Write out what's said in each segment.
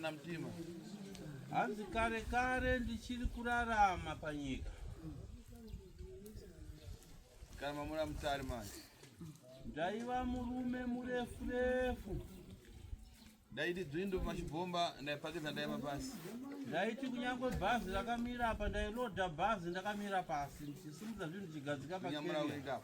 na mtima hanzi kare kare ndichiri kurarama panyika kana mamura mutari manje ndaiva murume murefu refu Ndaiti dzvindu pachibhomba ndaipakidza ndaiva pasi. Ndaiti kunyangwe bhazi rakamira apa ndailoda bhazi ndakamira pasi ndichisimudza zvinhu ndichigadzika pakenya.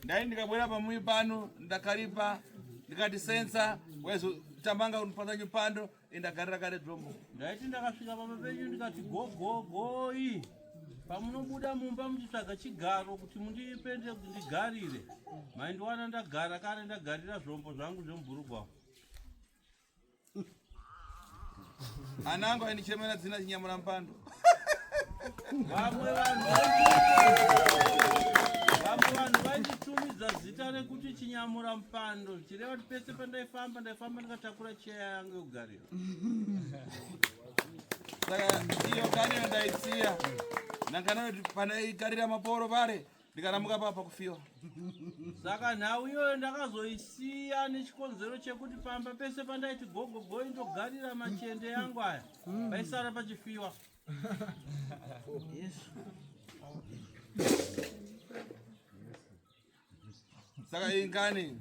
Ndai ndikabwera pamuyi pano ndakaripa ndikati sensa waizotamanga unipatsa nyupando ndagarira kare dzvombo ndaiti ndakasvika pamba penyu ndikati gogogoi pamunobuda mumba muchitsvaga chigaro kuti mundipende kuti ndigarire maindiwana ndagara kare ndagarira zvombo zvangu zvemubhurugwa anangu aindichemera dzina chinyamura mupando vamwe vanhu vamwe vanhu vainditumidza zita rekuti chinyamura mupando chireva kuti pese pandaifamba ndaifamba ndikatakura cheya yange yogariro saka iyo gariro ndaisiya ndangana kuti pandaikarira maporo pare ndikaramuka papa kufiwa saka nhau iyoyo ndakazoisiya nechikonzero chekuti pamba pese pandaiti gogogo indogarira machende yangu aya hmm. paisara pachifiwa saka ingani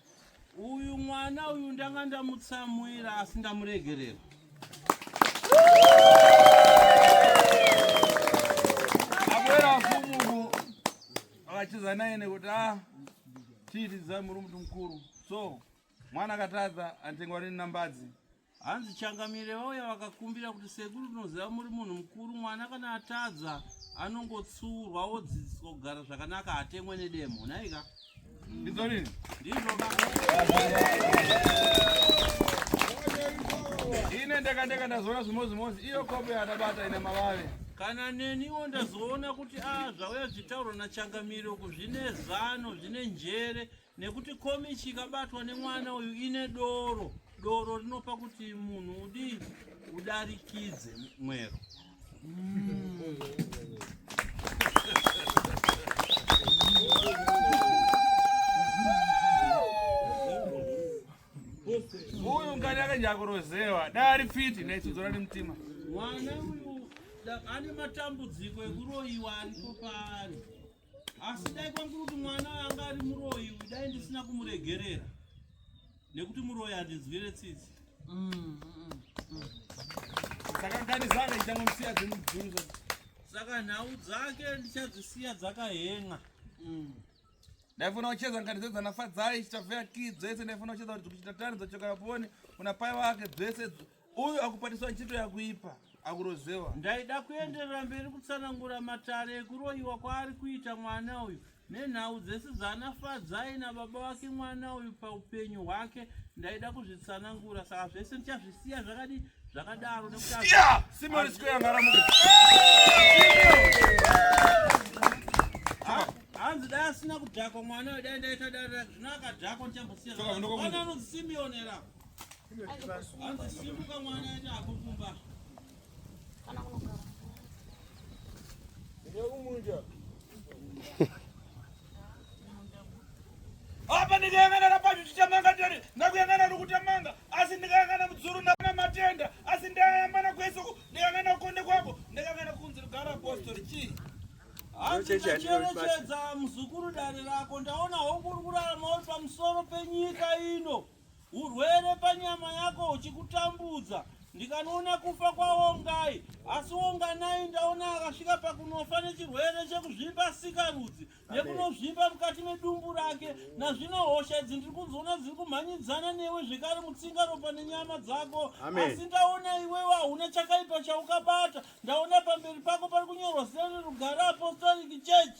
Uyu mwana uyu ndanga ndamutsamwira asi ndamuregerera. Abwera mfumu vachidza naye nekuti ah tiitidza muri mntu mkuru so mwana akatadza atengwa rini nambadzi Hanzi changamire vauya vakakumbira kuti sekuru tinoziva muri munhu mukuru mwana kana atadza anongotsurwa wodzidziswa kugara zvakanaka hatemwe nedemo nhaika ndizvo rini ndizvo ine ndakandeka ndazoona zvimozimozi iyo kopo yaadabata ine mavave kana neniwo ndazoona kuti a ah, zvauya zvitaurwa nachangamiro uku zvine zano zvine njere nekuti komichi ikabatwa nemwana uyu ine doro doro rinopa kuti munhu udii udarikidze mwero mm. uyu ngani akanyakurozewa dai ari fiti naitsodzora nemutima mwana uyu ane matambudziko ekuroyiwa aripo paari asi dai kwanguri kuti mwana anga ari muroyi uyu dai ndisina kumuregerera nekuti muroyi handinzwire tsitsi sakanganizana ichanga musiya dzemubvunzo saka nhau dzake ndichadzisiya dzakahen'a mm. ndaifuna kucheza ngati dzedza nafadzai chitavheya ki dzese ndaifuna kucheza kuti kuchita tani dzochoka vapone unapaya wake dzese Uyu akupatiswa ntchito yakuipa akurozewa. Ndaida kuenderera mberi kutsanangura matare ekuroyiwa kwaari kuita mwana uyu nenhau dzese dzaana Fadzai nababa vake mwana uyu paupenyu hwake ndaida kuzvitsanangura saka zvese ndichazvisiya zvakadii zvakadaro hanzi dai asina kudhakwa mwana uyu dai ndaita dare zvino akadhakwa ndichambosiya anozisimionera apa ndikayangana napacho chichamanga tiri ndakuyangana nokutamanga asi ndikayangana mudzuru ndana matenda asi ndayambana kwesoko ndikangana kukonde kwako ndikangana kunzi rugara apostori chii handiacherechedza muzukuru dare rako ndaona hongu uri kurarama uri pamusoro penyika ino Urwere panyama yako huchikutambudza ndikanoona kufa kwaongai asi onganai ndaona akasvika pakunofa nechirwere chekuzvimba sikarudzi nekunozvimba mukati medumbu rake nazvino hosha idzi ndiri kuzoona dziri kumhanyidzana newe zvekare mutsinga ropa nenyama dzako asi ndaona iwewe hauna chakaipa chaukabata ndaona pamberi pako pari kunyorwa zita rerugare apostolic church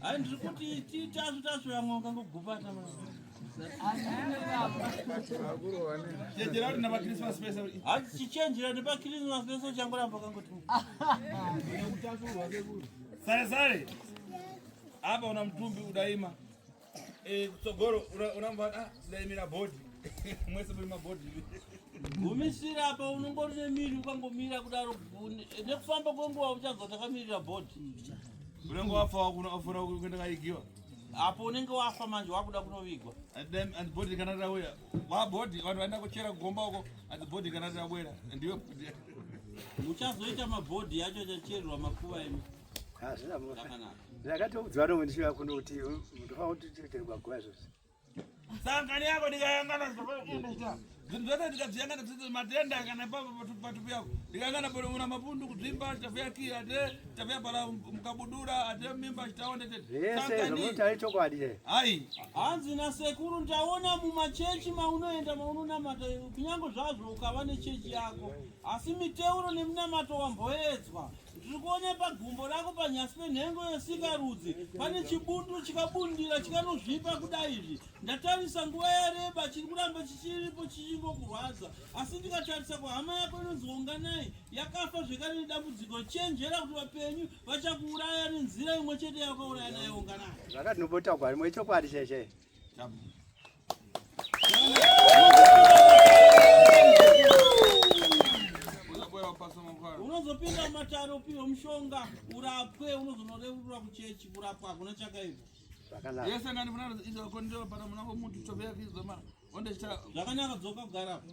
Hayi ndiri kuti titasvu tasvu vamwe ungangogupata chenjerati napakrismas pese hati chichenjera nepakrismas pese uchangoramba kangoti sare sare apa una mutumbi udaima Eh, kutsogoro unamva ah, daimira body mwese muri mabody gumisira apa unongori nemiri ukangomira kudaro eh, nekufamba kwenguva uchanzwa takamirira body unenge wafa wafuna kuenda kaigiwa apo unenge wafa manje wakuda kunovigwa and body kana rawera wabody vanhu vaenda kuchera kugomba uko and body kana rawera ndiwe uchazoita mabhodhi yacho achachererwa makuva imi hazvina mhosva ndakatoudzwa nomwe ndichiva kuno kuti ndofa kuti tireterwa guva zvose sangani yako ndikayangana zvinhu zvese ndikazviyangana zvizi matenda kana patupi yako ndikayangana panomuna mapundu kudzimba chitavuya ki ate chitavuya pala mukabudura ate mimba chitaonde teteaichokwadi hai hanzi nasekuru ndaona mumachechi maunoenda maunonamata kunyange zvazvo ukava nechechi yako asi miteuro neminamato wamboedzwa Ndiri kuona pagumbo rako panyasi penhengo yesikarudzi pane chibundu chikabundira chikanozvipa kudai izvi. Ndatarisa nguva yareba chiri kuramba chichiripo chichingokurwadza, asi ndikatarisa kuhama yako inonzi Unganai yakafa zvekare nedambudziko. Chenjera kuti vapenyu vachakuuraya nenzira imwe chete yavakauraya nayo Unganai. Zvakati nobotaurwa rimwe chokwadi cheshe. Tabu. unozopinda mumatare upihwe mushonga urapwe unozonoreurura kuchechi kurapwa hakuna chakaipa yese ngani vana izokondiwa pana muna womuntu tove yakizoma ondechita zvakanaka dzoka kugarapo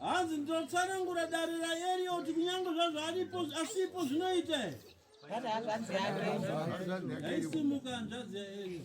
hanzi ndotsanangura dare raerioti kunyange zvazvo aripo asipo zvinoite aisimuka hanzvadzi yaerio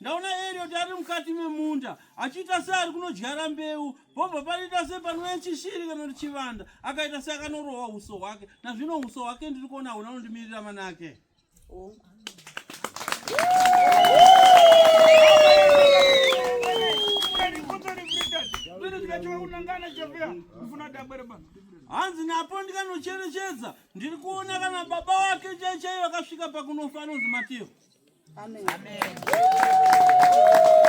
Ndaona Elliot ari mukati memunda achiita seari kunodyara mbeu pobva panoita sepanoya chishiri kana kuti chivanda akaita seakanorohwa uso hwake nazvino uso hwake ndiri kuona hauna unondimirira manake oh. hanzi napo ndikanocherechedza ndiri kuona kana baba wake chaichai vakasvika pakunofa anonzi matiyo Amen. Amen.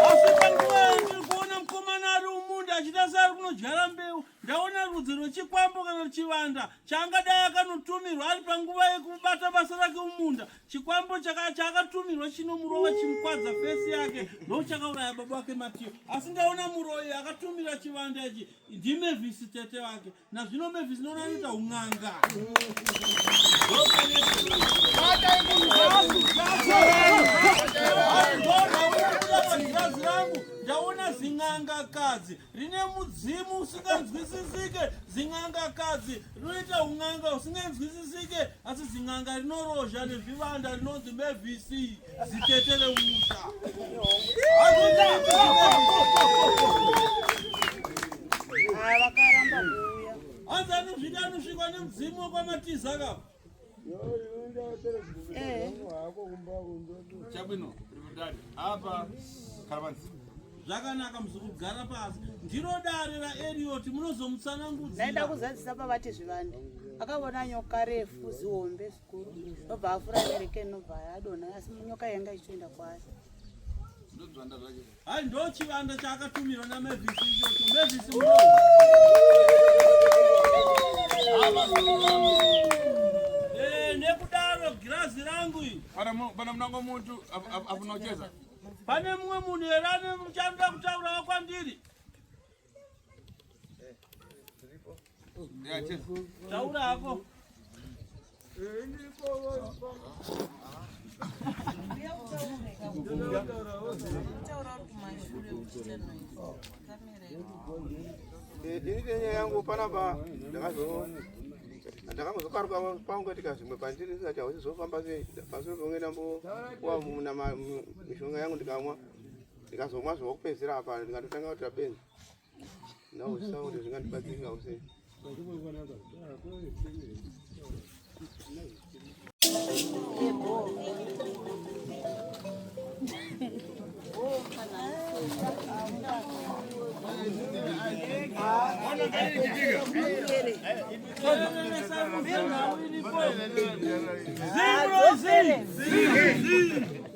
Asi panguva iyo ndiri kuona mukomana ari mumunda achita seari kunodyara mbeu, ndaona rudzi rwechikwambo kana kuti chivanda chaangadai akanotumirwa ari panguva yekubata basa rake mumunda. Chikwambo chaka- chaakatumirwa chinomurova chimukwadza fesi yake ndochakauraya baba wake Matiyo. Asi ndaona muroyi akatumira chivanda ichi ndiMevisi tete wake. Nazvino Mavis ndona anoita hun'anga. Ndaona zin'anga kadzi rine mudzimu usinganzwisisike, zin'anga kadzi rinoita hun'anga usinganzwisisike, asi zin'anga rinorozha nezvivanda rinonzi Mavis. chabwino rikudari apa karavanzi zvakanaka muzokugara pasi ndiro dare raerioti munozomutsanangudzira ndaida kuzadzisa pavati zvivande akavona nyoka refu zihombe ndobva afura nereke inobva yadonha asi nyoka yanga ichitoenda kwayo hai ndo chivanda chaakatumirwa namavis ichocho mavis eh, nekudaro girazi rangu iri pana munango muntu afunocheza pane mumwe munhu here ane muchanida kutaurawo kwandiri Taura hako. Ini tenya yangu pana ba ndakazo ndakamuzokaruka pangu katika zvimwe pandiri saka hausi zvofamba sei pasoro pamwe ndambo wa mishonga yangu ndikamwa ndikazomwa zvokupedzisira apa ndikatotanga kuita benzi ndausa kuti zvingandibatsirika kusei Zero, zero, zero.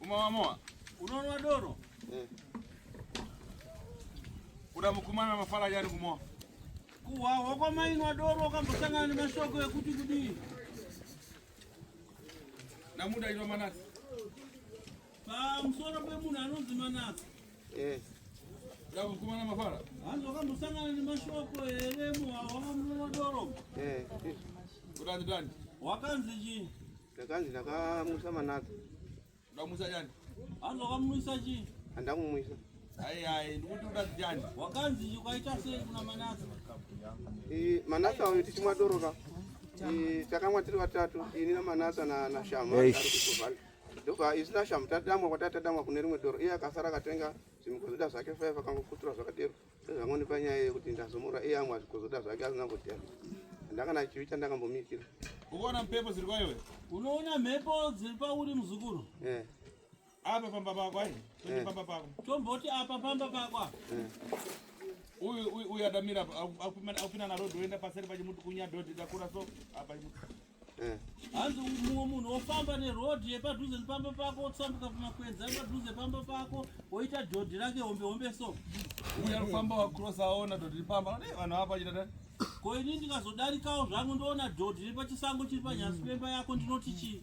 Umawamowa. Unoona doro? Eh. Kuda mukumana mafara yani kumoa. Kuwa wako mainwa doro wakambosangana nemashoko ekuti kudii? Namuda ino manasi. Pa msoro pe munhu anonzi manasi. Eh. Kuda mukumana mafara. Hanzi wakambosangana nemashoko here muwa wakamuna doro? Eh. Kuda ndani? Wakanzi chii? ndakanzi ndakamusa manaka ndamusa chani hanzi wakamuisa chii handakumuisa Hai hai ndikuti udadziani wakanzi ukaita sei kuna manasa eh, manasa uyu tichimwa doro ka eh, takamwa tiri vatatu ini namanasa nashama ndoka isu nashama tadamwa kwatati tadamwa kune rimwe doro iye akasara akatenga zvimikozoda zvake five akangokutura zvakadero Sezvamoni panyaya yekuti ndazomura iye amwe azvikozoda zvake asina kudya. Ndakana chivi chandakambomitira. Ukaona mhepo dziri kwaiwe? Unoona mhepo dziri pauri muzukuru? Eh. Apa pamba pako ai? Eh. Pamba pako. Tomboti apa pamba pako. Eh. Uyu uyu adamira akupinda na road oenda paseri pachimuti kunya dhodhi dakura so apa chimuti. Eh. hanzi mumwe munhu wofamba nerodhi yepadhuze nepamba pako wotsambuka kumakwenzi ari padhuze pamba pako woita dhodhi rake hombe hombe so uya kufamba wacross aona dhodhi ripamba ne eh, vanhu apa chitata ko ini ndikazodarikawo zvangu ndoona dhodhi ripachisango chiri panyasi pemba yako ndinoti chii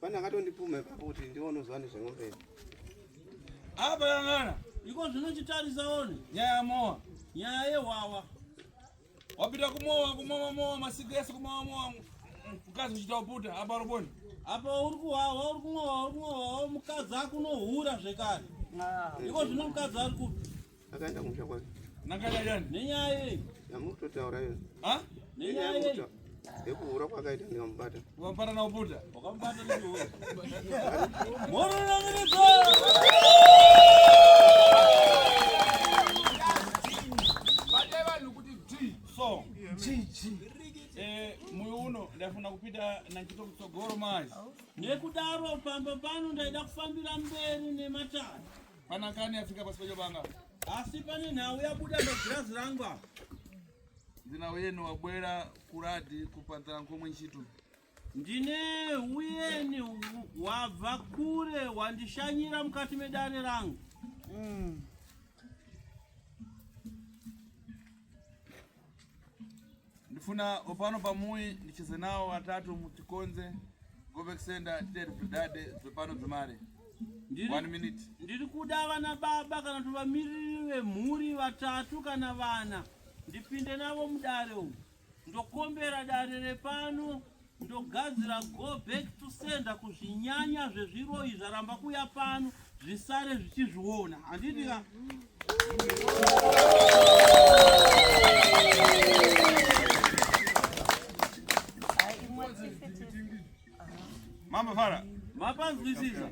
Pane akatondipuma ipapo kuti ndiwo unoziva nezveng'ombe idzi. Apa yangana. Iko zvino chitarisa one. Nyaya yamowa. Nyaya yehwawa. Wapita kumowa kumowa mowa masiku ese kumowa mowa mukadzi uchita uputa apa uruboni. Apa uri kuhwawa uri kumowa uri kumowa mukadzi akunohura zvekare. Iko zvino mukadzi ari kupi. Akaenda kumusha kwake. Nakaenda yani. Nenyaya iyi. Yamutotaura yona. Ha? Nenyaya iyi. Yekuhura kwakaita ndikamubata. Ukamubata na ubuda. Ukamubata na ubuda. Moro na ngirizo. ndafuna kupita nantchito kutsogoro mazi nekudaro pamba pano ndaida kufambira mberi nematare Panakani afika pasi pacho banga. Asi pane nhau yabuda pagirazi rangu apa. Ndina uyeni wabwera kuradi kupanzira nkomwe nchitu. Ndine uyeni wabva kure wandishanyira mukati medare rangu. Mm. ndifuna opano pamuyi ndicheze nawo atatu mutikonze govec center titeri bridade dzepano dzemari one minute ndiri kuda vana baba kana kuti vamiriri vemhuri vatatu kana vana ndipinde navo mudare umu ndokombera dare repano ndogadzira go back to sender kuzvinyanya zvezviroyi zvaramba kuya pano zvisare zvichizviona handiti ka mambo fara mapanzwisisa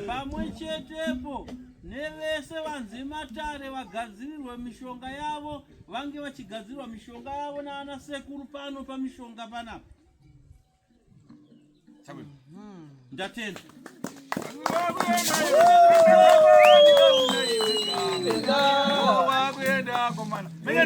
pamwe chetepo nevese vanzi matare vagadzirirwe mishonga yavo vange vachigadzirwa mishonga yavo naana sekuru pano pamishonga panapa hmm. ndatenda Mene